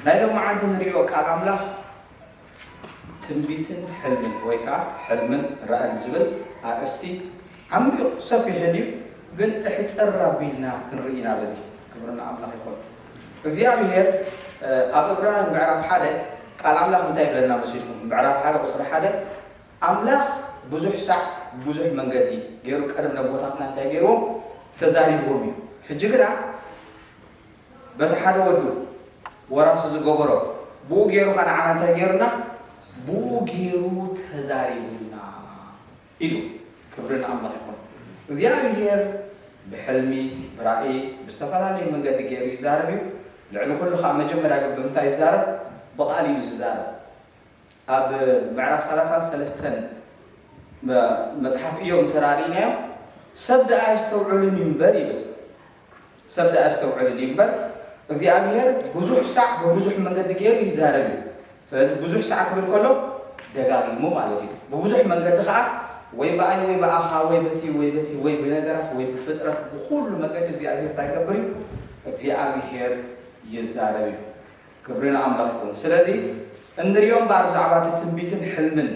ናይ ሎም መዓልቲ ንሪኦ ቃል ኣምላኽ ትንቢትን ሕልምን ወይ ከዓ ሕልምን ራእን ዝብል ኣርእስቲ ዓሚቕ ሰፊሕን እዩ ግን እሕፅር ኣቢልና ክንርኢ ኢና በዚ ክብርና ኣምላኽ ይኾን እግዚኣብሄር ኣብ እብራን ምዕራፍ ሓደ ቃል ኣምላኽ እንታይ ይብለና መሲልኩም ምዕራፍ ሓደ ቁፅሪ ሓደ ኣምላኽ ብዙሕ ሳዕ ብብዙሕ መንገዲ ገይሩ ቀደም ነቦታትና እንታይ ገይርዎም ተዛሪብዎም እዩ ሕጂ ግና በቲ ሓደ ወዱ ወራሲ ዝገበሮ ብኡ ገይሩ ከ ንዓና እንታይ ገይሩና ብኡ ገይሩ ተዛሪቡና ኢሉ ክብሪ ንኣምላኽ ይኹን እግዚኣብሄር ብሕልሚ ብራእይ ብዝተፈላለየ መንገዲ ገይሩ ይዛረብ እዩ ልዕሊ ኩሉ ከዓ መጀመርያ ግን ብምንታይ ይዛረብ ብቃል እዩ ዝዛረብ ኣብ ምዕራፍ ሰላሳን ሰለስተን መጽሓፍ እዮብ እንተ ርኢናዮ፣ ሰብ ደኣ ኣየስተውዕልን እዩ እምበር ይብል። ሰብ ደኣ ኣየስተውዕልን እዩ እምበር፣ እግዚኣብሄር ብዙሕ ሳዕ ብብዙሕ መንገዲ ገይሩ ይዛረብ እዩ። ስለዚ ብዙሕ ሳዕ ክብል ከሎ ደጋጊሙ ማለት እዩ። ብብዙሕ መንገዲ ከኣ ወይ ብኣይ ወይ ብኣኻ ወይ በቲ ወይ በቲ ወይ ብነገራት ወይ ብፍጥረት ብኹሉ መገዲ እግዚኣብሄር እንታይ ይገብር እዩ? እግዚኣብሄር ይዛረብ እዩ። ክብሪ ንኣምላኽ ይኹን ስለዚ እንሪኦ እምበኣር ብዛዕባ እቲ ትንቢትን ሕልምን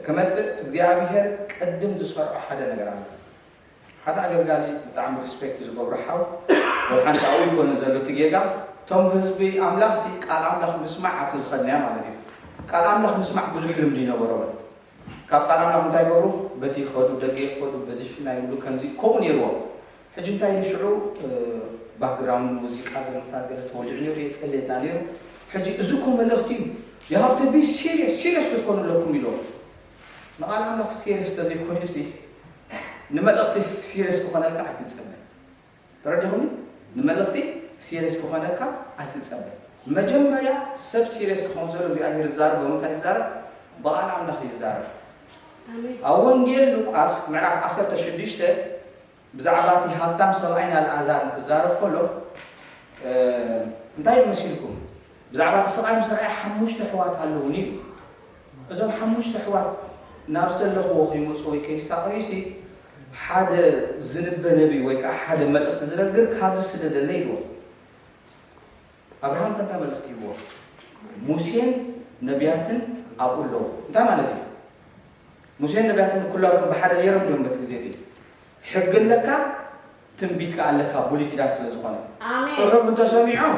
ክመጽእ እግዚኣብሄር ቅድም ዝሰርዖ ሓደ ነገር ኣሎ ሓደ ኣገልጋሊ ብጣዕሚ ሪስፔክት ዝገብሮ ሓው ወልሓንቲ ኣብኡ ይኮነ ዘሎ እቲ ጌጋ እቶም ህዝቢ ኣምላኽ ሲ ቃል ኣምላኽ ምስማዕ ኣብቲ ዝኸድናያ ማለት እዩ ቃል ኣምላኽ ምስማዕ ብዙሕ ልምዲ ይነበሮም ካብ ቃናናቕ እንታይ ገሩ በቲ ክኸዱ ደገ ይክፈዱ በዚሑ ናይ ብሉ ከምዚ ከምኡ ነይርዎም ሕጂ እንታይ ኢሉ ሽዑ ባክግራውንድ ሙዚቃ ገለ ምታ ገለ ተወሊዑ ነይሩ የጸልየና ነይሩ ሕጂ እዚ እኮ መልእኽቲ እዩ you have to be serious serious ክትኮኑ ኣለኩም ኢሎም ንቓል ኣምላኽ serious ተዘይኮይኑ ሲ ንመልእኽቲ serious ክኾነልካ ኣይትጸበ ተረድኹምኒ ንመልኽቲ ሲሬስ ክኾነካ ኣይትጸበ መጀመርያ ሰብ ሲሬስ ክኾን ዘሎ እግዚኣብሄር ዝዛረብ ብምንታይ ይዛረብ ብቓል ኣምላኽ እዩ ዝዛረብ ኣብ ወንጌል ሉቃስ ምዕራፍ ዓሰርተ ሽዱሽተ ብዛዕባ እቲ ሃብታም ሰብኣይን ኣልኣዛርን ክዛረብ ከሎ እንታይ መሲልኩም ብዛዕባ እቲ ሰብኣይ ምስ ረኣየ ሓሙሽተ ኣሕዋት ኣለዉኒ እዩ እዞም ሓሙሽተ ኣሕዋት ናብ ዘለኽዎ ከይመጹ ወይ ከይሳቐዩሲ ሓደ ዝንበ ነብዪ ወይ ከኣ ሓደ መልእኽቲ ዝነግር ካብዚ ስደደለይ ኢልዎም። ኣብርሃም ከ እንታይ መልእኽቲ ሂብዎም? ሙሴን ነብያትን ኣብኡ ኣለዉ። እንታይ ማለት እዩ? ሙሴን ነብያትን ኩላቶም ብሓደ ነይሮም ድዮም በቲ ግዜ እቲ? ሕጊ ኣለካ ትንቢት ከኣ ኣለካ ቡሉይ ኪዳን ስለ ዝኮነ ኣሜን። ጽሑፍ እንተ ሰሚዖም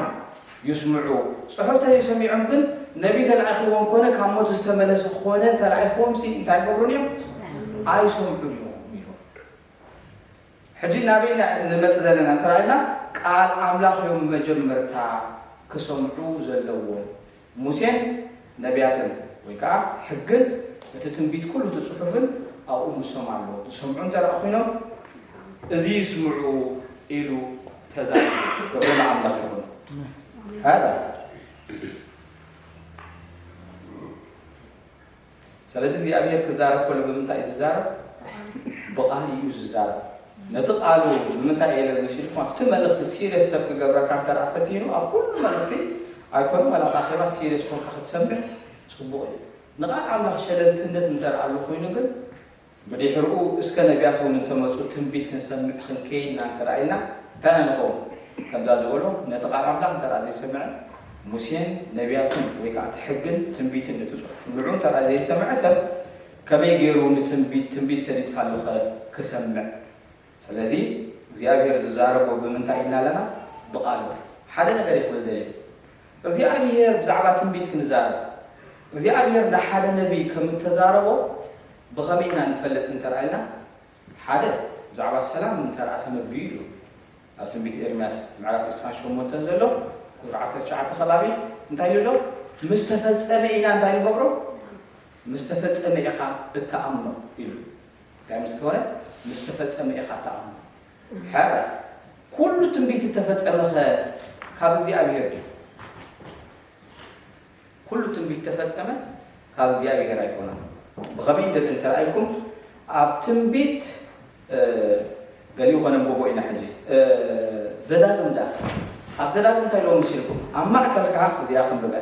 ይስምዑ ጽሑፍ ተዘይ ሰሚዖም ግን ነቢ ተላኢክዎም ኮነ ካብ ሞት ዝተመለሰ ኮነ ተላኢክዎም ሲ እንታይ ይገብሩን እዮም ኣይሰምዑን እዮም ኢሎም ሕጂ ናበይ ኢና ንመጽእ ዘለና እንተ ኢልና ቃል ኣምላኽ እዮም መጀመርታ ክሰምዑ ዘለዎም ሙሴን ነብያትን ወይ ከኣ ሕግን እቲ ትንቢት ኩሉ እቲ ጽሑፍን ኣብኡ ምሶም ኣሎ፣ ዝሰምዑ እንተ ደኣ ኹይኖም እዚ ይስምዑ ኢሉ ተዛሪቡ። ክብሪ ንኣምላኽ ይኹን። ሃለ ሰለዚ እግዚኣብሄር ክዛረብ ከሎ ብምንታይ እዩ ዝዛረብ? ብቃል እዩ ዝዛረብ። ነቲ ቃሉ ንምንታይ እየ ለሚሱ ኢልኩም ኣብቲ መልእኽቲ ሲርየስ ሰብ ክገብረካ እንተደኣ ፈቲኑ ኣብ ኩሉ መልእኽቲ ኣይኮነን ዋላ ኣብ ኣኼባ ሲርየስ ኮንካ ክትሰምዕ ጽቡቕ እዩ። ንቃል ኣምላኽ ሸለልትነት እንተደኣ ኣሎ ኮይኑ ግን ብድሕርኡ እስከ ነብያት እውን እንተ መጹ ትንቢት ክንሰምዕ ክንከይድ ኢና እንተ ኢልና እንታይ ኢና ንኸውን? ከምዛ ዝበሎ ነቲ ቃል ኣምላኽ እንተ ዘይሰምዐ ሙሴን ነብያትን ወይ ከኣ እቲ ሕግን ትንቢትን እቲ ጽሑፍ ንዑ እንተ ዘይሰምዐ ሰብ ከመይ ገይሩ ንትንቢት ትንቢት ሰዲድካሉኸ ክሰምዕ? ስለዚ እግዚኣብሔር ዝዛረቦ ብምንታይ ኢልና ኣለና ብቃሉ እዩ ሓደ ነገር እየ ክብል ደልየ እግዚኣብሔር ብዛዕባ ትንቢት ክንዛረብ እግዚኣብሔር ንሓደ ነቢይ ከም እተዛረቦ ብከመይ ኢና ንፈልጥ እንተርኣ ኢልና ሓደ ብዛዕባ ሰላም እንተርኣ ተነብዩ ኢሉ ኣብ ትንቢት ኤርምያስ ምዕራፍ ዕስራን ሸሞንተን ዘሎ ቁፅሪ ዓሰርተ ትሽዓተ ከባቢ እንታይ ኢሉ ኣሎ ምስ ተፈጸመ ኢና እንታይ ንገብሮ ምስ ተፈጸመ ኢኻ እትኣምኖ ኢሉ እንታይ ምስ ኮነ ምስ ተፈጸመ ኢኻ እትኣምኖ። ሕራይ ኩሉ ትንቢት እተፈጸመኸ ካብ እግዚኣብሄር ድዩ? ኩሉ ትንቢት እተፈጸመ ካብ እግዚኣብሄር ኣይኮነን። ብኸመይ ድርኢ እንተ ኢልኩም ኣብ ትንቢት ገሊኡ ከነንብቦ ኢና ሕጂ ዘዳግም ዳ ኣብ ዘዳግም እንታይ ኢልዎም ምስ ኢልኩም ኣብ ማእከልካ እዚኣ ክንብበ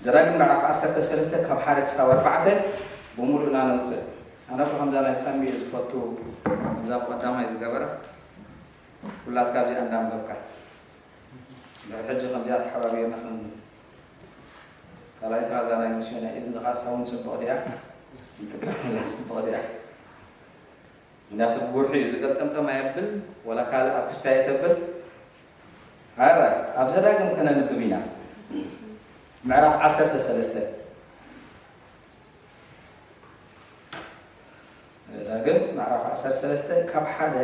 ዘዳግም ምዕራፍ ዓሰርተ ሰለስተ ካብ ሓደ ክሳብ ኣርባዕተ ብሙሉእ ኢና ነውጽእ። ኣነ እኮ ከምዛ ናይ ሳሚ እየ ዝፈቱ ከምዛ ብቀዳማይ ዝገበራ ኩላትካ ኣብዚኣ እንዳ ኣንበብካ ድሕሪ ሕጂ ከምዚኣ ተሓባቢርና ክን ካልኣይቲ ካዛ ናይ ምስዮ ናይ እዝንኻ ሳውን ጽብቕቲ እያ ንጥቀመላ ጽብቕቲ እያ ምክንያቱ ብጉርሒ እዩ ዝገልጠምጠም ኣየብል ወላ ካልእ ኣብ ክስታ የተብል ኣራይ ኣብ ዘዳግም ከነንብብ ኢና ምዕራፍ ዓሰርተ ሰለስተ ዘዳግም ምዕራፍ ዓሰርተ ሰለስተ ካብ ሓደ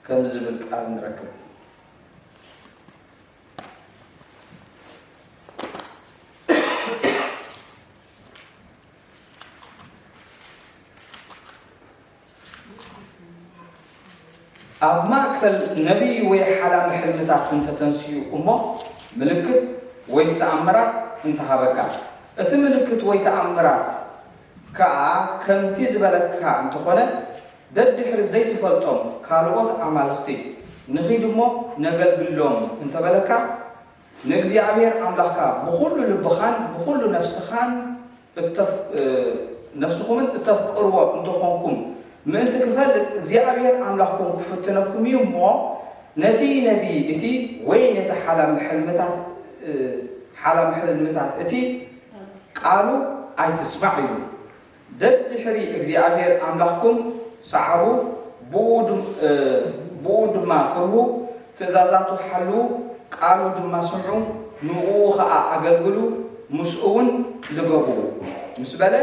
ከም ዝብል ቃል ንረክብ ኣብ ማእከል ነቢይ ወይ ሓላሚ ሕልምታት እንተ ተንስኡ እሞ ምልክት ወይስ ተኣምራት እንተ ሃበካ፣ እቲ ምልክት ወይ ተኣምራት ከኣ ከምቲ ዝበለካ እንተ ኾነ፣ ደድሕሪ ዘይትፈልጦም ካልኦት ኣማልኽቲ ንኺድ እሞ ነገልግሎም እንተ በለካ፣ ንእግዚኣብሔር ኣምላኽካ ብኹሉ ልብኻን ብኹሉ ነፍስኻን ነፍስኹምን እተፍቅርዎ እንተ ኾንኩም ምእንቲ ክፈልጥ፣ እግዚኣብሔር ኣምላኽኩም ክፍትነኩም እዩ እሞ፣ ነቲ ነቢይ እቲ ወይ ነቲ ሓላሚ ሕልምታት እቲ ቃሉ ኣይትስማዕ ኢሉ። ደድሕሪ እግዚኣብሄር ኣምላኽኩም ሰዓቡ፣ ብእኡ ድማ ፍርሁ፣ ትእዛዛቱ ሓልዉ፣ ቃሉ ድማ ስምዑ፣ ንእኡ ኸኣ ኣገልግሉ፣ ምስኡውን ልገቡ ምስ በለ፣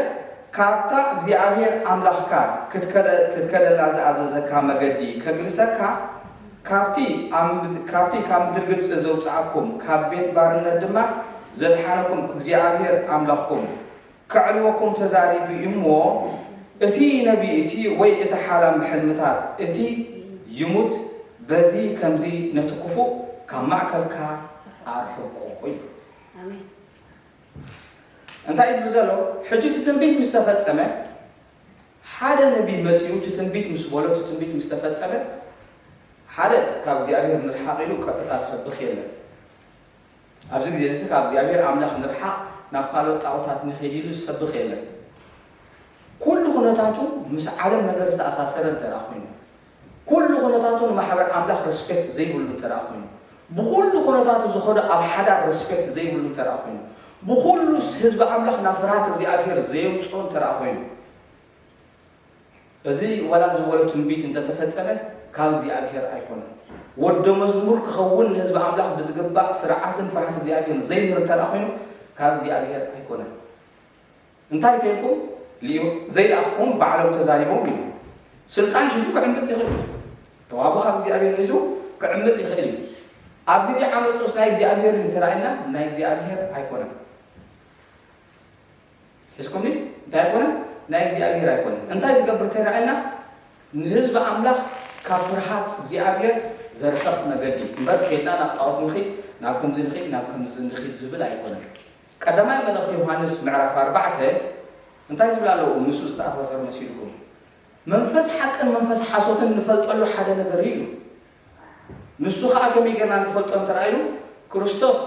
ካብታ እግዚኣብሄር ኣምላኽካ ክትከደላ ዝኣዘዘካ መገዲ ከግልሰካ፣ ካብቲ ካብ ምድሪ ግብጺ ዘውጽኣኩም፣ ካብ ቤት ባርነት ድማ ዘድሓነኩም እግዚኣብሄር ኣምላኽኩም፣ ከዕልወኩም ተዛሪቡ እዩ እሞ፣ እቲ ነቢይ እቲ ወይ እቲ ሓላም ሕልምታት እቲ ይሙት፣ በዚ ከምዚ ነቲ ክፉእ ካብ ማእከልካ ኣርሕቆ ኢሉ። እንታይ እዩ ዝብል ዘሎ? ሕጂ እቲ ትንቢት ምስ ተፈጸመ፣ ሓደ ነቢይ መጺኡ እቲ ትንቢት ምስ በሎ፣ እቲ ትንቢት ምስ ተፈጸመ፣ ሓደ ካብ እግዚኣብሄር ንርሓቕ ኢሉ ቀጥታ ዝሰብኽ የለን። ኣብዚ ግዜዚሲ ካብ እግዚኣብሄር ኣምላኽ ንርሓቕ ናብ ካልኦት ጣኦታት ንኺድ ኢሉ ዝሰብኽ የለን። ኩሉ ኩነታቱ ምስ ዓለም ነገር ዝተኣሳሰረ እንተደኣ ኮይኑ፣ ኩሉ ኩነታቱ ንማሕበር ኣምላኽ ረስፔክት ዘይብሉ እንተደኣ ኮይኑ፣ ብኹሉ ኩነታቱ ዝኸዶ ኣብ ሓዳር ረስፔክት ዘይብሉ እንተደኣ ኮይኑ፣ ብኹሉ ህዝቢ ኣምላኽ ናብ ፍርሃት እግዚኣብሄር ዘየውጽኦ እንተደኣ ኮይኑ፣ እዚ ዋላ ዝበሎ ትንቢት እንተ ተፈጸመ ካብ እግዚኣብሄር ኣይኮነን። ወዶ መዝሙር ክኸውን ንህዝቢ ኣምላኽ ብዝግባእ ስርዓትን ፍርሃት እግዚኣብሄርን ዘይምህር እንተ ደኣ ኮይኑ ካብ እግዚኣብሄር ኣይኮነን። እንታይ ተልኩም ልኢኹ ዘይለኣኽኩም ባዕሎም ተዛሪቦም ኢሉ ስልጣን ሒዙ ክዕምጽ ይኽእል እዩ። ተዋህቦ ካብ እግዚኣብሄር ሒዙ ክዕምጽ ይኽእል እዩ። ኣብ ግዜ ዓመጹስ ናይ እግዚኣብሄር እንተ ኢልና ናይ እግዚኣብሄር ኣይኮነን። ሒዝኩምኒ እንታይ ኣይኮነን ናይ እግዚኣብሄር ኣይኮነን እንታይ ዝገብር ተይራኣየና ንህዝቢ ኣምላኽ ካብ ፍርሃት እግዚኣብሄር ዘርሕቕ መገዲ እምበር ኬድና ናብ ጣዖት ንኺድ ናብ ከምዚ ንኺድ ናብ ከምዚ ንኺድ ዝብል ኣይኮነን ቀዳማይ መልእኽቲ ዮሃንስ ምዕራፍ ኣርባዕተ እንታይ ዝብል ኣለዎ ምስኡ ዝተኣሳሰር መሲልኩም መንፈስ ሓቅን መንፈስ ሓሶትን ንፈልጠሉ ሓደ ነገር እዩ ንሱ ኸኣ ከመይ ጌርና ንፈልጦ እንተ ኢሉ ክርስቶስ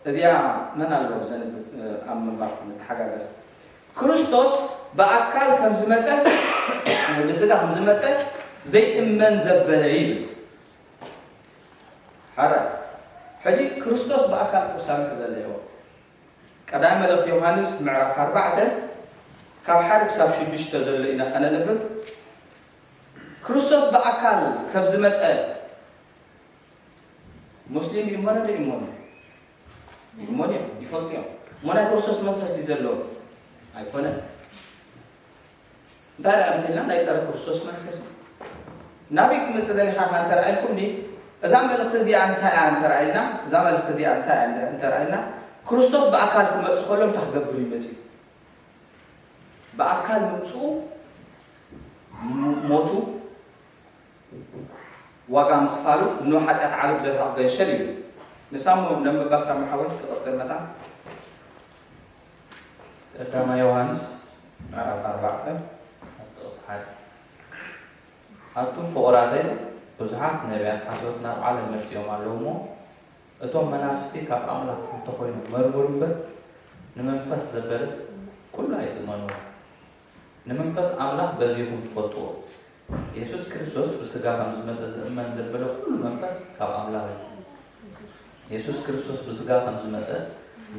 እዚኣ መን ኣሎ ዘንብብ ኣብ ምንባር ንተሓጋገዝ ክርስቶስ ብኣካል ከም ዝመጸ ወይ ብስጋ ከም ዝመጸ ዘይእመን ዘበለ ይብል ሓራ ሕጂ ክርስቶስ ብኣካል ክሳምሕ ዘለዎ ቀዳሚ መልእኽቲ ዮሃንስ ምዕራፍ ኣርባዕተ ካብ ሓደ ክሳብ ሽዱሽተ ዘሎ ኢና ከነንብብ ክርስቶስ ብኣካል ከብ ዝመጸ ሞስሊም ይሞነ ዶ ይሞኑ ይሞኑ እዮም ይፈልጡ እዮም እሞ ናይ ክርስቶስ መንፈስ ድዩ ዘለዎም ኣይኮነን እንታይ ደኣ እንተልና ናይ ጸረ ክርስቶስ መንፈስ እዩ ናበይ ክትመጽእ ዘሊኻ ካ እንተረኣኢልኩም ዲ እዛ መልእኽቲ እዚኣ እንታይ እያ እንተረኣኢልና እዛ መልእኽቲ እዚኣ እንታይ እያ እንተረኣኢልና ክርስቶስ ብኣካል ክመጽእ ከሎ እንታይ ክገብር ይመጽእ ብኣካል ምምጽኡ ሞቱ ዋጋ ምኽፋሉ ን ሓጢኣት ዓለም ዘርሕቕ ገንሸል እዩ። ንሳሞ ነምባ ሳሞ ሓወይ ክቕጽል መታ ቀዳማ ዮሃንስ ምዕራፍ ኣርባዕተ ኣብ ጥቕሲ ሓደ ኣቱም ፍቑራተይ ብዙሓት ነቢያት ሓሶት ናብ ዓለም መጺኦም ኣለዉ እሞ እቶም መናፍስቲ ካብ ኣምላኽ እንተኾይኖም መርምሩ እምበር ንመንፈስ ዘበለስ ኩሉ ኣይትእመንዎ ንምንፈስ ኣምላኽ በዚኹም ትፈልጥዎ የሱስ ክርስቶስ ብስጋ ከም ዝመጸ ዝእመን ዘበለ ኩሉ መንፈስ ካብ ኣምላኽ እዩ የሱስ ክርስቶስ ብስጋ ከም ዝመጸ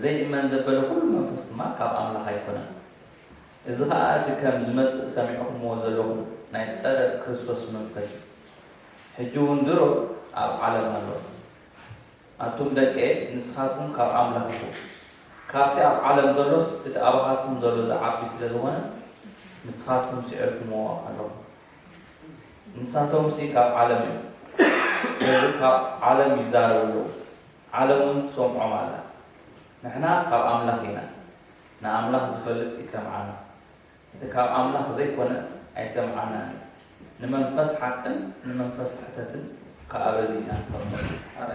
ዘይእመን ዘበለ ኩሉ መንፈስ ድማ ካብ ኣምላኽ ኣይኮነን እዚ ኸኣ እቲ ከም ዝመጽእ ሰሚዕኹምዎ ዘለኹም ናይ ጸረ ክርስቶስ መንፈስ እዩ ሕጂ እውን ድሮ ኣብ ዓለም ኣሎ ኣቱም ደቀየ ንስኻትኩም ካብ ኣምላኽ ኢኹም፣ ካብቲ ኣብ ዓለም ዘሎስ እቲ ኣባኻትኩም ዘሎ ዚዓቢ ስለ ዝዀነ፣ ንስኻትኩም ስዒርኩምዎ ኣለኹም። ንሳቶምሲ ካብ ዓለም እዮም፣ ስለዚ ካብ ዓለም ይዛረቡ ኣለዉ፣ ዓለምውን ትሰምዖም ኣላ። ንሕና ካብ ኣምላኽ ኢና፣ ንኣምላኽ ዚፈልጥ ይሰምዓና፣ እቲ ካብ ኣምላኽ ዘይኰነ ኣይሰምዓናን እዩ። ንመንፈስ ሓቅን ንመንፈስ ስሕተትን ከኣ በዚ ኢና ንፈልጦም። ኣረ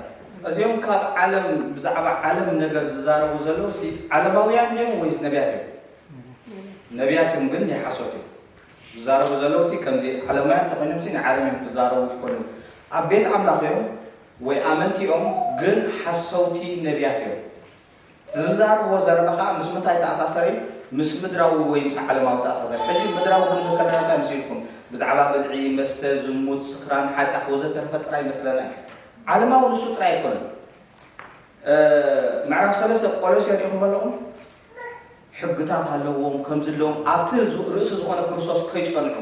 እዚኦም ካብ ዓለም ብዛዕባ ዓለም ነገር ዝዛረቡ ዘለዉ ሲ ዓለማውያን ድዮም ወይስ ነብያት እዮም? ነብያት እዮም ግን ናይ ሓሶት እዮም ዝዛረቡ ዘለዉ ሲ ከምዚ ዓለማውያን ተኾይኖም ሲ ናይ ዓለም እዮም ክዛረቡ ዝኮኑ ኣብ ቤት ኣምላኽ እዮም ወይ ኣመንቲ እዮም ግን ሓሰውቲ ነብያት እዮም። እቲ ዝዛረብዎ ዘረባ ከኣ ምስ ምንታይ ይተኣሳሰር እዩ? ምስ ምድራዊ ወይ ምስ ዓለማዊ ይተኣሳሰር እዩ። ሕጂ ምድራዊ ክንብል ከለና እንታይ መሲልኩም? ብዛዕባ ብልዒ፣ መስተ፣ ዝሙት፣ ስኽራን፣ ሓጢኣት ወዘተርፈ ጥራይ ይመስለና እዩ። ዓለማዊ ንሱ ጥራይ ኣይኮነን። ምዕራፍ ሰለስተ ቆሎሴ ርኢኹሞ ኣለኹም? ሕግታት ኣለዎም ከም ዝለዎም ኣብቲ ርእሲ ዝኾነ ክርስቶስ ከይጸንዑ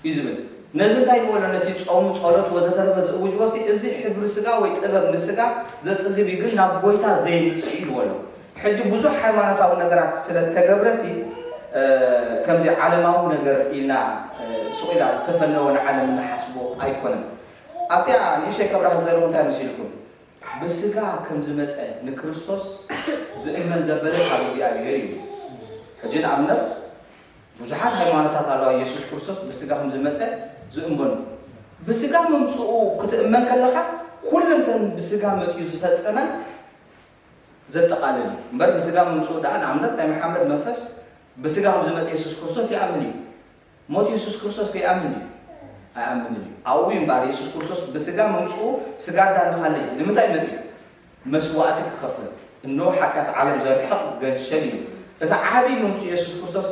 እዩ ዝብል ነዚ እንታይ ንበሎ ነቲ ጾም ጸሎት ወዘተርፈ ዝእውጅዎ ሲ እዚ ሕብሪ ስጋ ወይ ጥበብ ንስጋ ዘጽግብ እዩ ግን ናብ ጎይታ ዘየምጽእ እዩ ይብዎ ኣሎ ሕጂ ብዙሕ ሃይማኖታዊ ነገራት ስለ እተገብረ ሲ ከምዚ ዓለማዊ ነገር ኢልና ሱቕ ኢላ ዝተፈነወ ንዓለም እንሓስቦ ኣይኮነን ኣብቲኣ ንእሽተይ ከብራህ ዝደለኹ እንታይ መሲልኩም ብስጋ ከም ዝመጸ ንክርስቶስ ዝእመን ዘበለ ካብ እግዚኣብሔር እዩ። ሕጂ ንኣብነት ብዙሓት ሃይማኖታት ኣለዋ ኢየሱስ ክርስቶስ ብስጋ ከም ዝመጸ ዝእመኑ። ብስጋ ምምጽኡ ክትእመን ከለኻ ኩለንተን ብስጋ መጺኡ ዝፈጸመን ዘጠቓልል እዩ። እምበር ብስጋ ምምጽኡ ደኣ ንኣብነት ናይ መሓመድ መንፈስ ብስጋ ከም ዝመጸ ኢየሱስ ክርስቶስ ይኣምን እዩ። ሞት የሱስ ክርስቶስ ከይኣምን ድዩ? ኣይኣምንን እዩ። ኣብኡ እዩ እምበኣር የሱስ ክርስቶስ ብስጋ ምምጽኡ ስጋ ኣዳለኻለይ ንምንታይ መጺኡ? መስዋእቲ ክኸፍል። እነሆ ሓጢኣት ዓለም ዘርሕቕ ገንሸል እዩ። እቲ ዓቢ ምምጽኡ የሱስ ክርስቶስ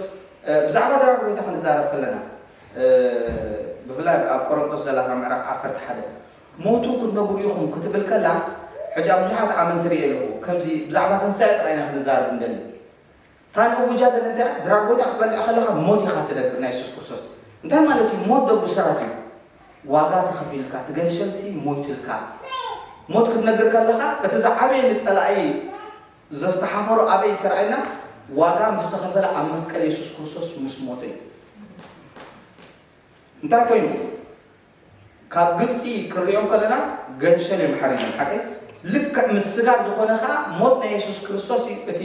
ብዛዕባ ድራር ጎይታ ክንዛረብ ከለና ብፍላይ ኣብ ቆሮንቶስ ዘላትና ምዕራፍ ዓሰርተ ሓደ ሞቱ ክትነግሩ ኢኹም ክትብል ከላ ሕጂ ኣብ ብዙሓት ኣመንቲ ርእየ ኣለኹ ከምዚ ብዛዕባ ትንሳኤ ጥራይ ኢና ክንዛረብ እንደሊ እታ ንእውጃ ግን እንታይ እያ? ድራር ጎይታ ክትበልዕ ከለኻ ሞት ኢኻ እትደግፍ ናይ የሱስ ክርስቶስ። እንታይ ማለት እዩ? ሞት ዶ ብሰራት እዩ? ዋጋ ተኸፊልካ፣ እቲ ገንሸልሲ ሞይትልካ። ሞት ክትነግር ከለኻ እቲ ዝዓበየ ንጸላኢ ዘስተሓፈሮ ኣበይ ተራእየና? ዋጋ ምስ ተኸፈለ ኣብ መስቀል የሱስ ክርስቶስ ምስ ሞተ እዩ። እንታይ ኮይኑ? ካብ ግብጺ ክንሪኦም ከለና ገንሸል እዮም ሓሪዶም ሓቀይ ልክዕ ምስ ስጋብ ዝኾነ ከኣ ሞት ናይ የሱስ ክርስቶስ እዩ እቲ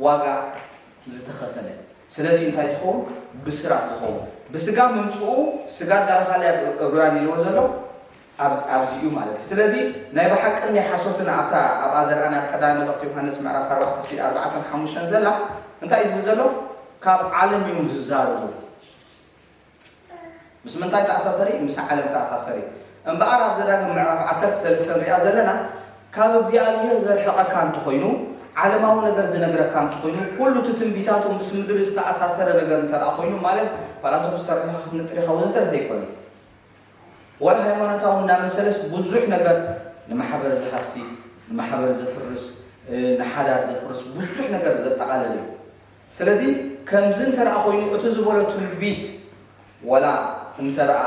ዋጋ ዝተኸፈለ ስለዚ እንታይ ዝኸውን ብስራት ዝኸውን ብስጋ ምምጽኡ ስጋ ዳርኻላይ ኣብ ዕብራውያን ኢልዎ ዘሎ ኣብዚ እዩ ማለት እዩ ስለዚ ናይ ብሓቅን ናይ ሓሶትን ኣብታ ኣብኣ ዘርኣና ኣብ ቀዳሚ መልእኽቲ ዮሃንስ ምዕራፍ 4 ፍቲ 4 5 ዘላ እንታይ እዩ ዝብል ዘሎ ካብ ዓለም እዮም ዝዛረቡ ምስ ምንታይ ተኣሳሰር እዩ? ምስ ዓለም ተኣሳሰር እዩ። እምበኣር ኣብ ዘዳግም ምዕራፍ ዓሰርተ ሰለስተ ንሪኣ ዘለና ካብ እግዚኣብሄር ዘርሕቐካ እንተኾይኑ፣ ዓለማዊ ነገር ዝነግረካ እንተኾይኑ፣ ኩሉ እቲ ትንቢታቱ ምስ ምድሪ ዝተኣሳሰረ ነገር እንተደኣ ኮይኑ ማለት ፈላሰፉ ዝተረሕኻ ክትንጥር ኢኻ ወዘተረፈ ኣይኮነን። ወላ ሃይማኖታዊ እናመሰለስ ብዙሕ ነገር ንማሕበር ዝሃሲ፣ ንማሕበር ዘፍርስ፣ ንሓዳር ዘፍርስ ብዙሕ ነገር ዘጠቓልል እዩ። ስለዚ ከምዚ እንተደኣ ኮይኑ እቲ ዝበሎ ትንቢት ወላ እንተደኣ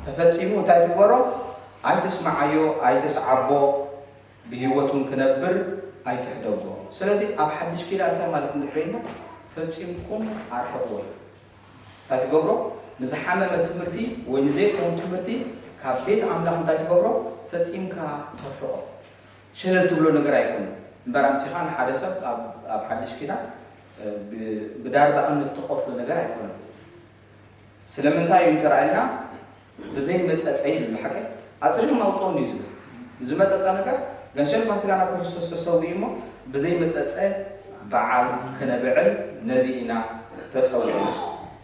ተፈጺሙ እንታይ ትግበሮ ኣይትስምዓዮ ኣይትስዓቦ ብሂወት ውን ክነብር ኣይትሕደጎ ስለዚ ኣብ ሓድሽ ኪዳን እንታይ ማለት እንድሕሪ ኢልና ፈጺምኩም ኣርሕቅዎ እዩ እንታይ ትገብሮ ንዝሓመመ ትምህርቲ ወይ ንዘይከውን ትምህርቲ ካብ ቤት ኣምላኽ እንታይ ትገብሮ ፈጺምካ ተርሕቆ። ሸለል ትብሎ ነገር ኣይኮነን እምበር ኣምጺኻ ንሓደ ሰብ ኣብ ኣብ ሓድሽ ኪዳን ብ ብዳርባ እምኒ እትቆርዶ ነገር ኣይኮነን ስለምንታይ እዩ እንተራኢልና ብዘይ መጸጸ ይብል ብሓቂ ኣጽሪኹም ኣውጽኦም እዩ ዝብል ዝመጸጸ ነገር ገንሸልፋን ስጋና ክርስቶስ ተሰዊኡ እሞ ብዘይ መጸጸ በዓል ከነብዕል ነዚ ኢና ተጸዊዕና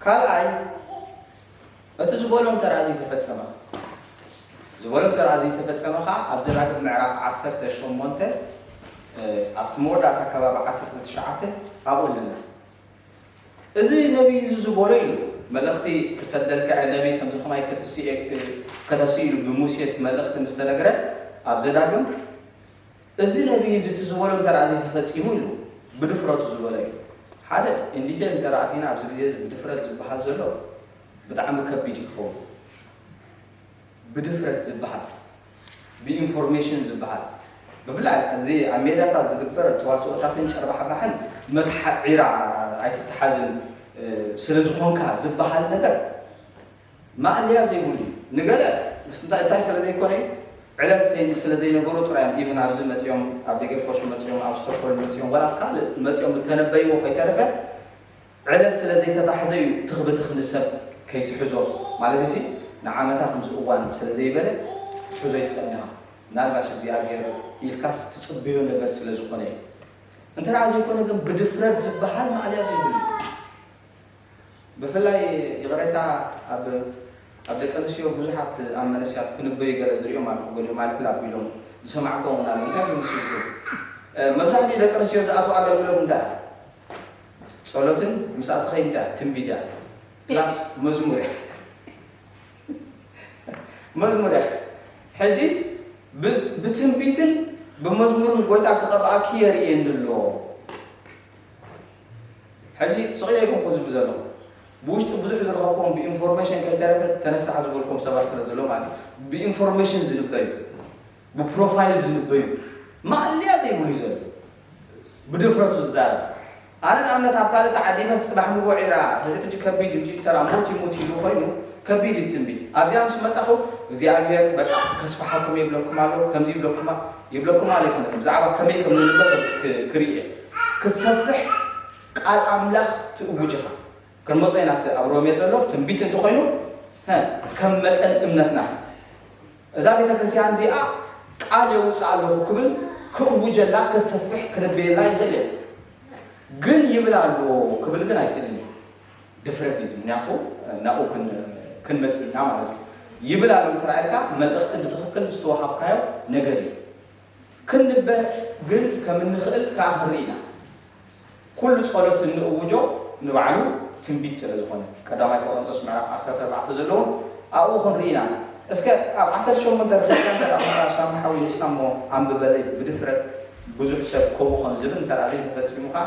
ካልኣይ እቲ ዝበሎ እንተድኣ ዘይተፈጸመ ኸ? ዝበሎ እንተድኣ ዘይተፈጸመ ኸኣ ኣብ ዘዳግም ምዕራፍ ዓሰርተ ሸሞንተ ኣብቲ መወዳእታ ከባቢ ዓሰርተ ትሽዓተ ኣብኡ ኣለና። እዚ ነብዪ እዚ ዝበሎ ኢሉ መልእኽቲ ክሰደልካ እየ፣ ነብዪ ከምዚ ኸማይ ከተስእ ኢዩ ኢሉ ብሙሴ እቲ መልእኽቲ ምስ ተነግረ ኣብ ዘዳግም እዚ ነብዪ እዚ እቲ ዝበሎ እንተ ደኣ ዘይተፈጺሙ ኢሉ ብድፍረቱ ዝበሎ እዩ። ሓደ in detail እንተ ኣቲና ኣብዚ ግዜ እዚ ብድፍረት ዝበሃል ዘሎ ብጣዕሚ ከቢድ እዩ ክኸውን። ብድፍረት ዝበሃል፣ ብኢንፎርሜሽን ዝበሃል ብፍላይ እዚ ኣብ ሜዳታት ዝግበር ተዋስኦታትን ጨርባሕባሕን መትሓ ዒራ ኣይትተሓዝን ስለ ዝኾንካ ዝበሃል ነገር ማእለያ ዘይብሉ እዩ ንገለ ምስ እንታይ እንታይ ስለ ዘይኮነ እዩ ዕለት ሰይ ስለ ዘይነበሩ ጥራይ እዮም ኢቭን ኣብዚ መጽዮም ኣብ ደገት ኮሹ መጽዮም ኣብ ስቶክሆልም መጽዮም ወላ ኣብ ካልእ መጽዮም እተነበይዎ ከይተረፈ ዕለት ስለ ዘይተታሕዘ እዩ ትኽ ብትኽ ንሰብ ከይትሕዞ ማለት እዚ ንዓመታ ከምዚ እዋን ስለ ዘይበለ ክትሕዞ ኣይትኽእልን ኢኻ ምናልባሽ እግዚኣብሄር ኢልካስ ትጽበዮ ነገር ስለ ዝኾነ እዩ እንተ ዘይኮነ ግን ብድፍረት ዝበሃል ማእለያ ዘይብሉ እዩ ብፍላይ ይቕሬታ ኣብ ኣብ ደቂ ኣንስትዮ ብዙሓት ኣብ መንእሰያት ክንበዩ ገለ ዝርእዮም ኣለኹ ገሊኦም ኣልዕል ኣቢሎም ዝሰማዕክዎም እውን ኣሎ እንታይ ክመስልኩም መብዛሕትኡ ደቂ ኣንስትዮ ዝኣትዎ ኣገልግሎት እንታይ እያ ጸሎትን ምስኣ ትኸይድ እንታይ እያ ትንቢት እያ ፕላስ መዝሙር እያ መዝሙር እያ ሕጂ ብትንቢትን ብመዝሙርን ጎይታ ክቐብኣኪ የርእየኒ ኣሎ ሕጂ ስቕ ኢለ ኣይኮንኩን ዝብል ዘለኹ። ብውሽጢ ብዙሕ ዝረኸብክዎም ብኢንፎርሜሽን ከይተረፈ ተነሳሕ ዝበልክዎም ሰባት ስለ ዘለዉ ማለት እዩ። ብኢንፎርሜሽን ዝልበዩ፣ ብፕሮፋይል ዝልበዩ ማእለያ ዘይብሉ እዩ ዘሎ። ብድፍረቱ ዝዛረብ ኣነ ንኣብነት ኣብ ካልእ ተዓዲመስ ጽባሕ ንጎዕ ኢራ ሕዚ ሕጂ ከቢድ እዩ ዲል ተራ ሞት ይሙት ኢሉ ኮይኑ ከቢድ እዩ ትንቢት ኣብዚኣ ምስ መጻኹ እግዚኣብሔር በቃ ከስፋሓኩም የብለኩም ኣሎ ከምዚ ይብለኩማ ይብለኩም ኣለኩ ብዛዕባ ከመይ ከም ንልእኽ ክርኢ እየ ክትሰፍሕ ቃል ኣምላኽ ትእውጅ ኢኻ ክንመጾ ኢና እቲ ኣብ ሮሜ ዘሎ ትንቢት እንተኾይኑ ሀ ከም መጠን እምነትና እዛ ቤተ ክርስቲያን እዚኣ ቃል የውፅእ ኣለኹ ክብል ክእውጀላ ክትሰፍሕ ክነበየላ ይኽእል እየ ግን ይብል ኣሎ ክብል ግን ኣይክእልን እዩ ድፍረት እዩ እዚ ምክንያቱ ናብኡ ክንመጽእ ኢና ማለት እዩ ይብል ኣሎ እንተራኣልካ መልእኽቲ ብትኽክል ዝተዋሃብካዮ ነገር እዩ ክንበ ግን ከም እንኽእል ከኣ ክንርኢ ኢና ኩሉ ጸሎት እንእውጆ ንባዕሉ ትንቢት ስለ ዝኾነ ቀዳማይ ቆሮንቶስ ምዕራፍ 14 ዘለውን ኣብኡ ክንርኢ ኢና እስከ ኣብ 18 ርክብካ እንተ ኮና ሳሚ ሓዊ ንሳ እሞ ኣንብበለይ ብድፍረት ብዙሕ ሰብ ከምኡ ከም ዝብል እንተ ዘይተፈጺሙ ከኣ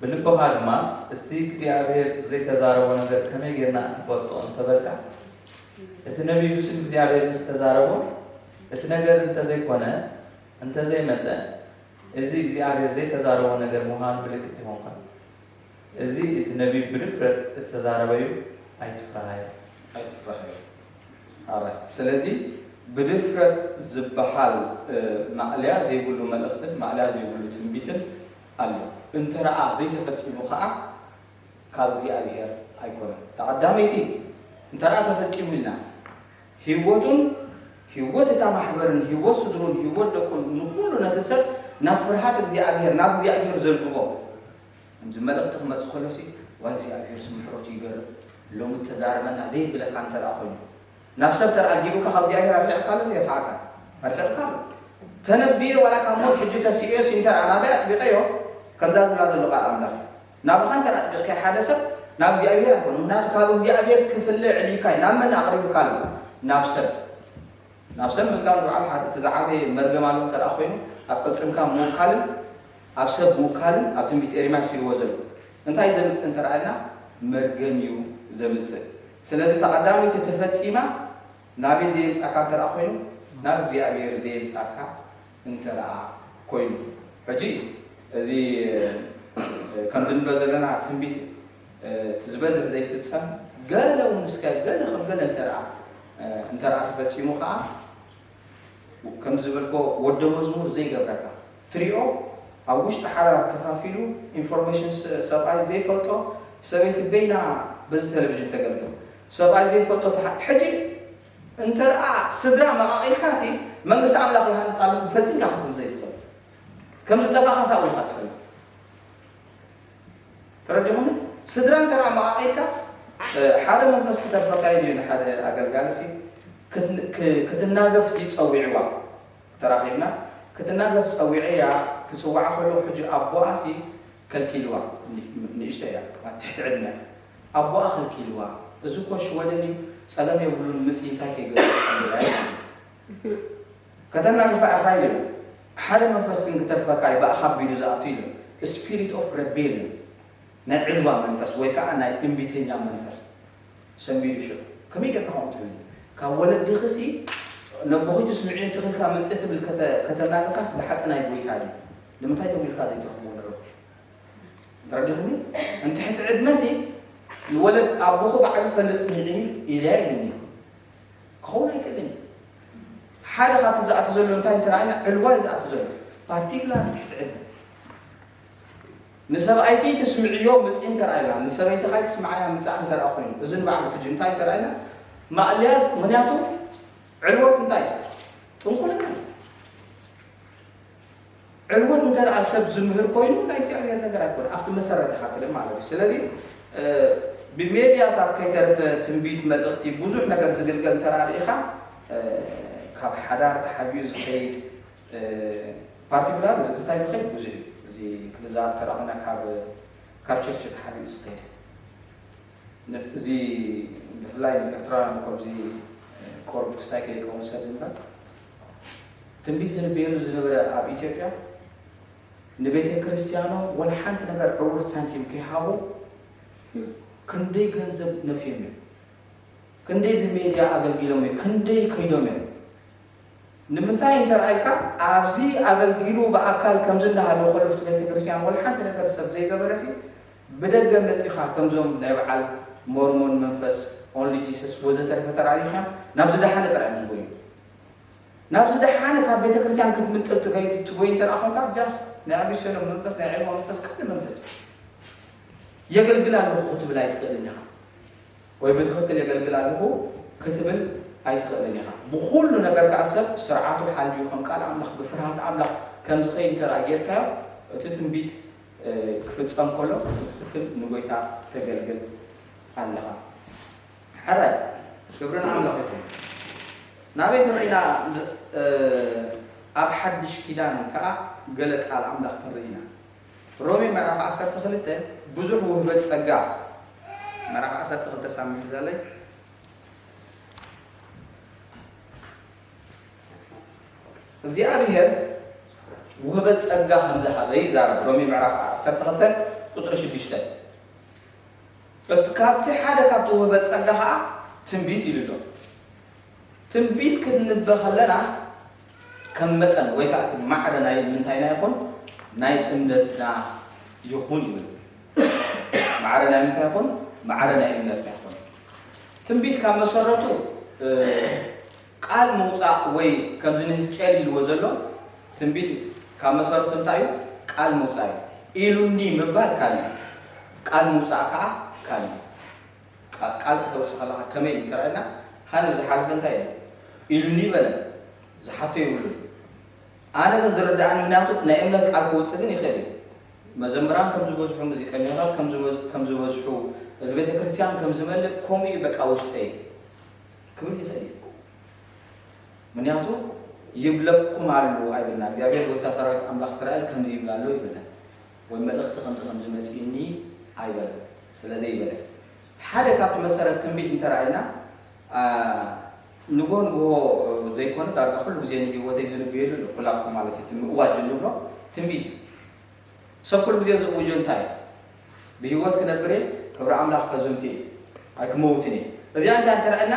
ብልብኻ ድማ እቲ እግዚኣብሄር ዘይተዛረቦ ነገር ከመይ ጌርና ንፈልጦ እንተ በልካ፣ እቲ ነብዪ ብስም እግዚኣብሄር ምስ ተዛረቦ፣ እቲ ነገር እንተ ዘይኰነ፣ እንተ ዘይመጸ፣ እዚ እግዚኣብሄር ዘይተዛረቦ ነገር ምዃኑ ምልክት ይዀንካ። እዚ እቲ ነብዪ ብድፍረት እተዛረበ'ዩ፣ ኣይትፍርሃዮ። ኣይትፍርሃዮ። ኣራይ ስለዚ ብድፍረት ዝበሃል ማእለያ ዘይብሉ መልእኽትን ማእለያ ዘይብሉ ትንቢትን ኣሎ እንተረኣ ዘይተፈጺሙ ከኣ ካብ እግዚኣብሄር ኣይኮነን እታ ቀዳመይቲ እንተረኣ ተፈጺሙ ኢልና ሂወቱን ሂወት እታ ማሕበርን ሂወት ስድሩን ሂወት ደቁን ንኹሉ ነቲ ሰብ ናብ ፍርሃት እግዚኣብሄር ናብ እግዚኣብሄር ዘልግቦ ከምዚ መልእኽቲ ክመጽእ ከሎሲ ዋይ እግዚኣብሄርሲ ምሕረቱ ይገርም ሎሚ ተዛረበና ዘይብለካ እንተረኣ ኮይኑ ናብ ሰብ ተራጊቡካ ካብ እግዚኣብሔር ኣርሒቅካሉ እንድዩ የርሓቀካ ኣርሒቅካሉ ተነብዬ ዋላ ካብ ሞት ሕጂ ተሲኦዮ ሲንተር ኣናብያ ኣጥቢቀዮ ከምዛ ዝብላ ዘሎ ቃል ኣምላክ እዩ ናባካ እንተ ኣጥቢቅካዮ ሓደ ሰብ ናብ እግዚኣብሔር ኣይኮነ ምክንያቱ ካብ እግዚኣብሔር ክፍለ ዕሊካ እዩ ናብ መን ኣቅሪብካ ኣሎ ናብ ሰብ ናብ ሰብ ምልጋብ ንበዓል እቲ ዝዓበየ መርገም ኣሎ እንተ ኮይኑ ኣብ ቅልጽምካ ምውካልን ኣብ ሰብ ምውካልን ኣብ ትንቢት ኤርምያስ ኢልዎ ዘሎ እንታይ ዘምጽእ እንተ ርኣና መርገም እዩ ዘምጽእ ስለዚ እታ ቀዳመይቲ ተፈጺማ ናበይ ዘየምጻካ እንተ ርኣ ኮይኑ ናብ እግዚኣብሔር ዘየምጻካ እንተ ርኣ ኮይኑ ሕጂ እዚ ከምዚ ንብሎ ዘለና ትንቢት እቲ ዝበዝሕ ዘይፍጸም ገለ ውን እስከ ገለ ከም ገለ እንተ ርኣ እንተ ርኣ ተፈጺሙ ከኣ ከም ዝበልኮ ወደ መዝሙር ዘይገብረካ ትሪኦ ኣብ ውሽጢ ሓዳር ከፋፊሉ ኢንፎርሜሽን ሰብኣይ ዘይፈልጦ ሰበይቲ በይና በዚ ተለቪዥን ተገልግል ሰብኣይ ዘይፈልጦ ተሓ ሕጂ እንተርኣ ስድራ መቃቂልካ ሲ መንግስቲ ኣምላኽ ይሃንጽ ኣለኹ ፈጺምካ ክትብል ዘይትኽእል ከም ዝጠፋኻ ሳብ ኢልካ ትፈልጥ ተረዲኹምኒ ስድራ እንተ ኣመቓቒልካ ሓደ መንፈስ ክተርፈካ ኢሉ እዩ ንሓደ ኣገልጋሊሲ ክትናገፍሲ ጸዊዕዋ ተራኺብና ክትናገፍ ጸዊዐያ ክጽውዓ ከለኹ ሕጂ ኣቦኣሲ ከልኪልዋ ንእሽተይ እያ ኣብ ትሕቲ ዕድመ ኣቦኣ ከልኪልዋ እዚ እኮ ሽወደን እዩ ጸገም የብሉን ምጺ እንታይ ከይገበርኩ ኢለያ ኢሉ ከተናግፋ ኢኻ ኢሎም። ሓደ መንፈስ ግን ክተርፈካ እዩ ብኣኻ ኣቢሉ ዝኣቱ ኢሎም። Spirit of Rebellion፣ ናይ ዒልዋ መንፈስ ወይ ከኣ ናይ እምቢተኛ መንፈስ ሰንቢዱ ሽዑ ከመይ ጌርካ ከምኡ ትብል ካብ ወለድኺሲ ነቦኺ ትስምዕዮ እንተኺልካ ምጽእ ትብል ከተ ከተናግፋስ ብሓቂ ናይ ጎይታ ድዩ ንምንታይ ደዊልካ ዘይተኽብዎ ንረብ ተረዲኹኒ እንትሕቲ ዕድመሲ ይወለድ ኣቦኹ በዓል ይፈልጥ ንዒ ኢልያ ኢሉኒ ክኸውን ኣይክእልን እዩ። ሓደ ካብቲ ዝኣቱ ዘሎ እንታይ እንተረኣና ዕልዋ እዩ ዝኣቱ ዘሎ ፓርቲኩላር ትሕቲ ዕድመ ንሰብኣይኪ ትስምዕዮ ምፅ እንተረኣና ንሰበይትኻ ትስምዓያ ምፃእ እንተረኣ ኮይኑ እዚ ንባዕሉ ሕጂ እንታይ እንተረኣና ማእለያ ምክንያቱ ዕልወት እንታይ ጥንቁልና ዕልወት እንተ ደኣ ሰብ ዝምህር ኮይኑ ናይ እግዚኣብሔር ነገር ኣይኮነን ኣብቲ መሰረተ ሃክልም ማለት እዩ ስለዚ ብሜድያታት ከይተርፈ ትንቢት መልእኽቲ ብዙሕ ነገር ዝግልገል እንተ ደኣ ርኢኻ ካብ ሓዳር ተሓቢኡ ዝኸይድ ፓርቲኩላር እዚ ክስታይ ዝኸይድ ብዙሕ እዩ እዚ ክንዛረብ እንተ ደኣ ኮይና ካብ ካብ ቸርች ተሓቢኡ ዝኸይድ እዚ ብፍላይ ንኤርትራውያን እኮ እዚ ቆርብ ክስታይ ከይከውን ሰብ እምበር ትንቢት ዝንበየሉ ዝነበረ ኣብ ኢትዮጵያ ንቤተ ክርስቲያኖም ወላ ሓንቲ ነገር ዕውርቲ ሳንቲም ከይሃቡ ክንደይ ገንዘብ ነፍዮም እዮም ክንደይ ብሜድያ ኣገልጊሎም እዮም ክንደይ ከይዶም እዮም ንምንታይ እንተርኣይካ ኣብዚ ኣገልጊሉ ብኣካል ከምዚ እንዳሃለ ኮለፍቲ ቤተ ክርስቲያን ወላ ሓንቲ ነገር ሰብ ዘይገበረሲ ብደገ መጺኻ ከምዞም ናይ በዓል ሞርሞን መንፈስ ኦንሊ ጂሰስ ወዘተረፈ ተራእዩካ ናብ ዝደሓነ ጥራይ እዮም ዝጎዩ ናብ ዝደሓነ ካብ ቤተክርስትያን ክትምንጥል ትገይ ትጎይ እንተ ኮንካ ጃስት ናይ ኣቢሰሎም መንፈስ ናይ ዒልሞ መንፈስ ካልእ መንፈስ የገልግል ኣለኹ ክትብል ኣይትኽእልን ኢኻ ወይ ብትኽክል የገልግል ኣለኹ ክትብል ኣይትኽእልን ኢኻ ብኹሉ ነገር ከዓ ሰብ ስርዓቱ ሓልዩ ከም ቃል ኣምላኽ ብፍርሃት ኣምላኽ ከም ዝኸይድ እንተ ጌርካዮ እቲ ትንቢት ክፍጸም ከሎ ብትኽክል ንጎይታ ተገልግል ኣለኻ ሐራይ ክብሪ ንኣምላኽ ይኹን ናበይ ክንርኢ ኢና ኣብ ሐድሽ ኪዳን ከኣ ገለ ቃል ኣምላኽ ክንርኢ ኢና ሮሜ ምዕራፍ ዓሰርተ ክልተ ብዙሕ ውህበት ጸጋ ምዕራፍ ዓሰርተ ክልተ ሳብ ምሕዛለይ እግዚኣብሄር ውህበት ጸጋ ከም ዝሃበ ይዛረብ፣ ሮሜ ምዕራፍ ዓሰርተ ክልተ ቍጽሪ ሽዱሽተ። እቲ ካብቲ ሓደ ካብቲ ውህበት ጸጋ ከኣ ትንቢት ኢሉ ኣሎ። ትንቢት ክንንበ ከለና ከም መጠን ወይ ከኣ እቲ ማዕረ ናይ ምንታይና ይኹን ናይ እምነትና ይኹን ይብል። ማዕረ ናይ ምንታይ ይኹን? ማዕረ ናይ እምነትና ይኹን። ትንቢት ካብ መሰረቱ ቃል ምውጻእ ወይ ከምዚ ንህዝቅኤል ኢልዎ ዘሎ ትንቢት ካብ መሰረቱ እንታይ እዩ ቃል ምውጻእ እዩ ኢሉኒ ምባል ካልእ እዩ ቃል ምውጻእ ከዓ ካልእ እዩ ቃ- ቃል ከተውጽእ ከለካ ከመይ እዩ ተራእየና ሃን ዝሓለፈ እንታይ እዩ ኢሉኒ በለ ዝሓቶ ይብሉን ኣነ ግን ዝርደኣኒ ምክንያቱ ናይ እምነት ቃል ክውጽእ ግን ይክእል እዩ መዘምራን ከም ዝበዝሑ ሙዚቀኛታት ከም ዝበዝሑ እዚ ቤተክርስትያን ከም ዝመልእ ከምኡ እዩ በቃ ውሽጠይ ክብል ይክእል እዩ ምክንያቱ ይብለኩም ኣሉ ኣይብልና እግዚኣብሔር ጎይታ ሰራዊት ኣምላኽ እስራኤል ከምዚ ይብል ኣሎ ይብለን ወይ መልእኽቲ ከምዚ ከምዚ መጺእኒ ኣይበለ ስለዘይበለ ሓደ ካብቲ መሰረት ትንቢት እንተረኣይና ንጎ ንጎ ዘይኮነ ዳርጋ ኩሉ ግዜ ንህይወተይ ዝንብየሉ ኣሎ ኩላትኩም ማለት እዩ እቲ ምእዋጅ እንብሎ ትንቢት እዩ ሰብ ኩሉ ግዜ ዝእውጆ እንታይ እዩ ብህይወት ክነብር እየ ክብሪ ኣምላኽ ከዝንቱ እየ ኣይክመውትን እየ እዚኣ እንታይ እንተርኣና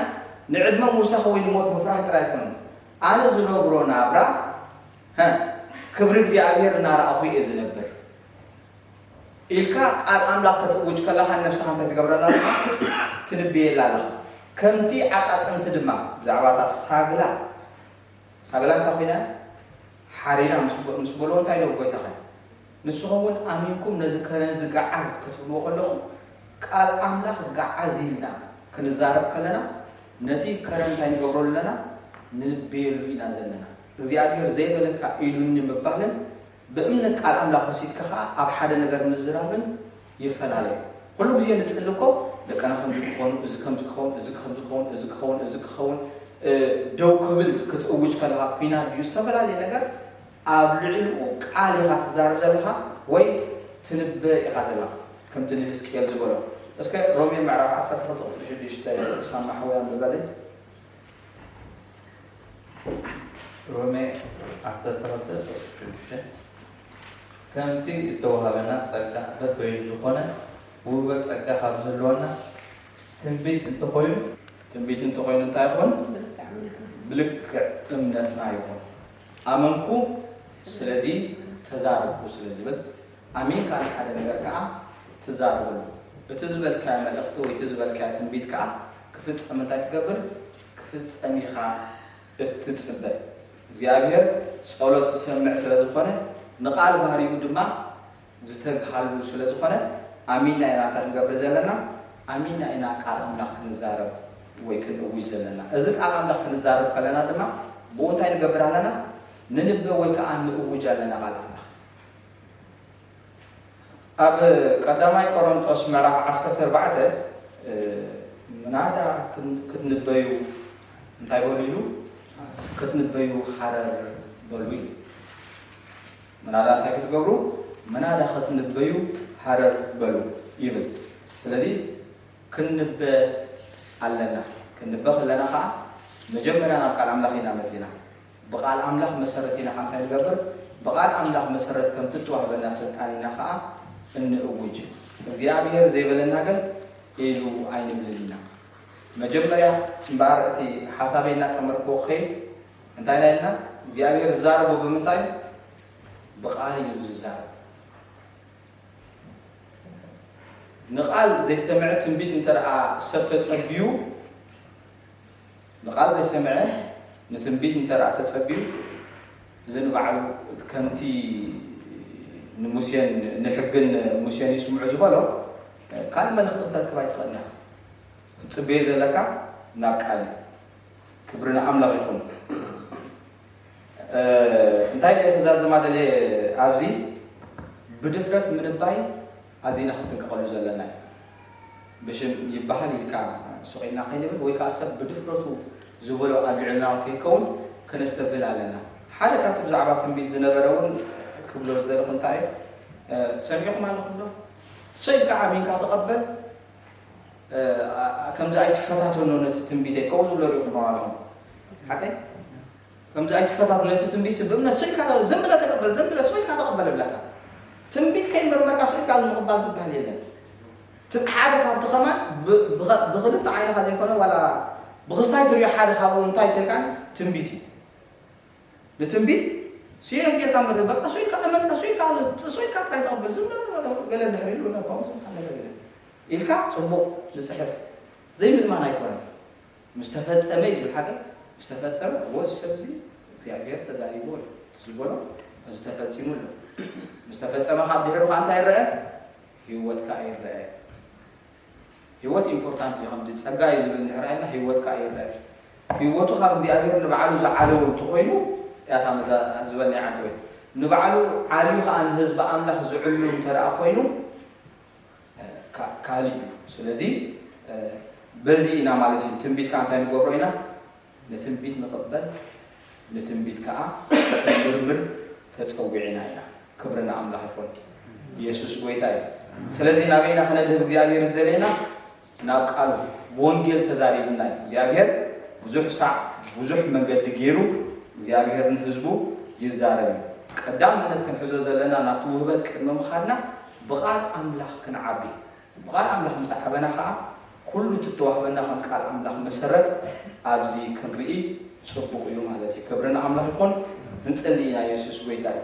ንዕድመ ምውሳኽ ወይ ንሞት ምፍራህ ጥራይ ኣይኮነን ኣነ ዝነብሮ ናብራ ክብሪ እግዚኣብሔር እናረኣኹ እየ ዝነብር ኢልካ ቃል ኣምላኽ ከተእውጅ ከለኻ ንነብስኻ እንታይ ትገብረላ ኣለኻ? ትንብየላ ኣለኻ። ከምቲ ዓጻጽምቲ ድማ ብዛዕባ እታ ሳግላ ሳግላ እንታይ ኮይና እያ ሓሪራ ምስ በልዎ እንታይ ኢሎም ጎይታኸ ንስኹም እውን ኣሚንኩም ነዚ ከረን እዚ ገዓዝ ከትብልዎ ከለኹም ቃል ኣምላኽ ገዓዝ ኢልና ክንዛረብ ከለና ነቲ ከረን እንታይ ንገብረሉ ኣለና ንንብየሉ ኢና ዘለና እግዚኣብሔር ዘይበለካ ኢሉኒ ምባልን ብእምነት ቃል ኣምላኽ ወሲድካ ከኣ ኣብ ሓደ ነገር ምዝራብን ይፈላለ እዩ። ኩሉ ግዜ ንጽሊ እኮ ደቅና ከምዚ ክኾኑ፣ እዚ ከምዚ ክኸውን፣ እዚ ከምዚ ክኸውን፣ እዚ ክኸውን፣ እዚ ክኸውን፣ እ ደው ክብል ክትእውጅ ከለኻ ኩናት ድዩ ዝተፈላለየ ነገር ኣብ ልዕልኡ ቃል ኢኻ ትዛረብ ዘለኻ ወይ ትንበ ኢኻ ዘለኻ ከምቲ ንህዝቅኤል ዝበሎ እስከ ሮሜ ምዕራፍ ዓሰርተ ክልተ ቁጽሪ ሽዱሽተ ሳማሕወይ ኣንብበለይ። ሮሜ ዓሰርተ ክልተ ቁጽሪ ሽዱሽተ ከምቲ ዝተዋህበና ጸጋ በበይኑ ዝኾነ ውህበት ጸጋ ካብ ዝህልወና ትንቢት እንተኾይኑ ትንቢት እንተኾይኑ እንታይ ይኹን ብልክዕ እምነትና ይኹን ኣመንኩ ስለዚ ተዛረብኩ ስለ ዝብል ኣሜን ካልእ ሓደ ነገር ከኣ ትዛረበሉ እቲ ዝበልካዮ መልእኽቲ ወይ እቲ ዝበልካዮ ትንቢት ከኣ ክፍጸም እንታይ ትገብር ክፍጸም ኢኻ እትጽበ እግዚኣብሄር ጸሎት ዝሰምዕ ስለ ዝኾነ ንቃል ባህሪኡ ድማ ዝተግሃሉ ስለ ዝኾነ ኣሚና ኢና እንታይ ክንገብር ዘለና ኣሚና ኢና ቃል ኣምላኽ ክንዛረብ ወይ ክንእውጅ ዘለና እዚ ቃል ኣምላኽ ክንዛረብ ከለና ድማ ብኡ እንታይ ንገብር ኣለና ንንበ ወይ ከኣ ንእውጅ ኣለና ቃል ኣምላኽ ኣብ ቀዳማይ ቆሮንጦስ ምዕራፍ ዓሰርተ ኣርባዕተ ምናዳ ክትንበዩ እንታይ በሉ ኢሉ ክትንበዩ ሃረር በሉ ኢሉ ምናዳ እንታይ ክትገብሩ ምናዳ ክትንበዩ ሃረር በሉ ይብል ስለዚ ክንበ ኣለና ክንበ ከለና ከዓ መጀመሪያ ናብ ቃል ኣምላኽ ኢና መፂና ብቓል ኣምላኽ መሰረት ኢና ኣንታይ ንገብር? ብቓል ኣምላኽ መሰረት ከምቲ እትዋህበና ስልጣን ኢና ከኣ እንእውጅ። እግዚኣብሄር ዘይበለና ግን ኢሉ ኣይንብልን ኢና። መጀመርያ እምበኣር እቲ ሓሳበይ እናጠመርክዎ ክኸይድ እንታይ ኢና ኢልና? እግዚኣብሄር ዝዛረቦ ብምንታይ እዩ? ብቓል እዩ ዝዛረብ። ንቓል ዘይሰምዐ ትንቢት እንተደኣ ሰብ ተጸብዩ፣ ንቓል ዘይሰምዐ ንትንቢት እንተደኣ ተጸብዩ እዚ ንባዕሉ እቲ ከምቲ ንሙሴን ንሕግን ሙሴን ይስምዑ ዝበሎ ካልእ መልእኽቲ ክተርክብ ኣይትኽእልን ኢኻ ክትጽበዮ ዘለካ ናብ ቃል እዩ ክብሪ ንኣምላኽ ይኹን እንታይ ደኣ ክዛዝማ ደልየ ኣብዚ ብድፍረት ምንባይ ኣዚና ክንጥንቀቐሉ ዘለና እዩ። ብሽም ይበሃል ኢልካ ስቒልና ከይንብል ወይ ከኣ ሰብ ብድፍረቱ ዝበሎ ኣልዒልናዮ ከይከውን ከነስተብህል ኣለና። ሓደ ካብቲ ብዛዕባ ትንቢት ዝነበረ እውን ክብሎ ዝደለኹ እንታይ እዩ፣ ሰሚዕኹም ኣለኹም ዶ? ሰይ ኢልካ ኣሚንካ ተቐበል፣ ከምዚ ኣይትፈታተኖ ነቲ ትንቢተይ ከምኡ ዝብሎ ርኢኹም ኣለኹም። ሓቀይ? ከምዚ ኣይትፈታትኖ እቲ ትንቢት ስብ ብእምነት ስቅ ኢልካ ዝም ብለ ተቀበል ዝም ብለ ስቅ ኢልካ ተቀበል እብለካ ትንቢት ከይመርመርካ ስቅ ኢልካ ምቅባል ዝብሃል የለን ትም ሓደ ካብቲ ከማን ብ ብኸ ብክልተ ዓይንኻ ዘይኮነ ዋላ ብክስታይ ትሪኦ ሓደ ካብኡ እንታይ ተልካን ትንቢት እዩ ንትንቢት ሲሪየስ ጌርካ ምርህ በቃ ስቅ ኢልካ እመንካ ስቅ ኢልካ ስቅ ኢልካ ጥራይ ተቀበል ዝም ብለ ገለ ድሕሪ ኢሉ ከምዚ ገለ ገለ ኢልካ ጽቡቅ ንጽሕፍ ዘይምእማን ኣይኮነን ምስ ተፈጸመ እዩ ዝብል ሃገር ምስ ተፈጸመ እዎ እዚ ሰብ እዚ እግዚኣብሔር ተዛሪብዎ እዩ እቲ ዝበሎ እዚ ተፈጺሙ ኣሎ ምስ ተፈጸመ ካብ ድሕሩ ከኣ እንታይ ይረኣ ህይወትካ ይረኣ ህይወት ኢምፖርታንት እዩ ከምዚ ጸጋ እዩ ዝብል እንድሕር ኢልና ህይወት ከኣ ይረኣ ህይወቱ ካብ እግዚኣብሔር ንባዕሉ ዝዓለወ እንተኾይኑ ያታ መዛ ዝበልናይ ዓንተ ወይ ንባዕሉ ዓልዩ ከኣ ንህዝቢ ኣምላኽ ዝዕሉ እንተ ኮይኑ ካልእ እዩ ስለዚ በዚ ኢና ማለት እዩ ትንቢት ከዓ እንታይ ንገብሮ ኢና ንትንቢት ንቕበል ንትንቢት ከዓ ክንምርምር ተፀዊዕና ኢና ክብሪ ንኣምላኽ ይኹን ኢየሱስ ጎይታ እዩ ስለዚ ናበይና ክነድህብ እግዚኣብሔር ዝደለየና ናብ ቃሉ ብወንጌል ተዛሪቡና እዩ እግዚኣብሔር ብዙሕ ሳዕ ብዙሕ መንገዲ ገይሩ እግዚኣብሔር ንህዝቡ ይዛረብ እዩ ቀዳምነት ክንሕዞ ዘለና ናብቲ ውህበት ቅድሚ ምኻድና ብቃል ኣምላኽ ክንዓቢ ብቃል ኣምላኽ ምስ ዓበና ኸዓ ኩሉ እቲ እተዋህበና ከም ቃል ኣምላኽ መሰረት ኣብዚ ክንርኢ ጽቡቅ እዩ ማለት እዩ ክብሪ ንኣምላኽ ይኹን እንጽሊ ኢና የሱስ ጎይታ እዩ